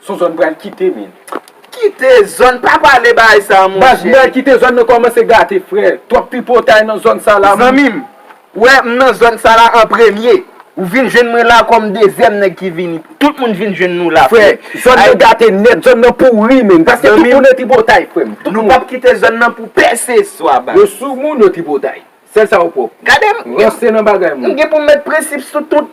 Sou zòn pral kite min. Kite zòn pa pale bagay sa monche. Baz mwen kite zòn nan kòmanse gate frè twòp tripotay nan zòn sa la moun. Zanmim ou wè m nan zòn sa la an premye ou vin jwenn mwen la kòm dezyèm nèg ki vini tout moun vin jwenn nou la frè. Frè zòn nan gate nèt zòn nan pouri min paske tout moun nan tripotay frè m. Nou pap kite zòn nan pou pèseswa baz. Yo sou moun yo tripotay sèl sa yo pwòp. Gade m gen pou m met prensip sou tout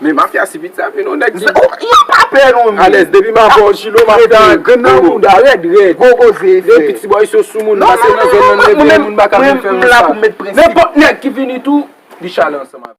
Men mafya si piti sa menw nèg ki. Yo pa pè nou menm. Alèz depi ma vòw chilo map pè. Grenn nan mouda rèd rèd. Gogo ze efè. Depi ti bòy so sou moun nou pase nan zòn nan nou leve yon moun baka vin fè moun sa. Nenpòt nèg ki vini tou li chale ansanm avèw.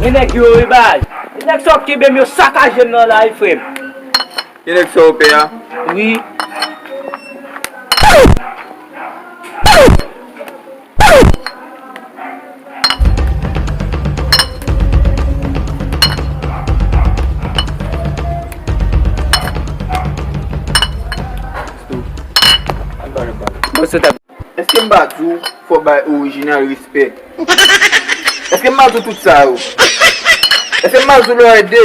Gen nèg yo wi baz. Gen nèg sa yo k kenbe m yo sakaje m nan la wi frè m. Gen nèg sa yo pè a? Wi. Eske m pa di w fò w bay orijinal respè? Eske m pa di w tout sa yo? Eske m pa di w lò ede?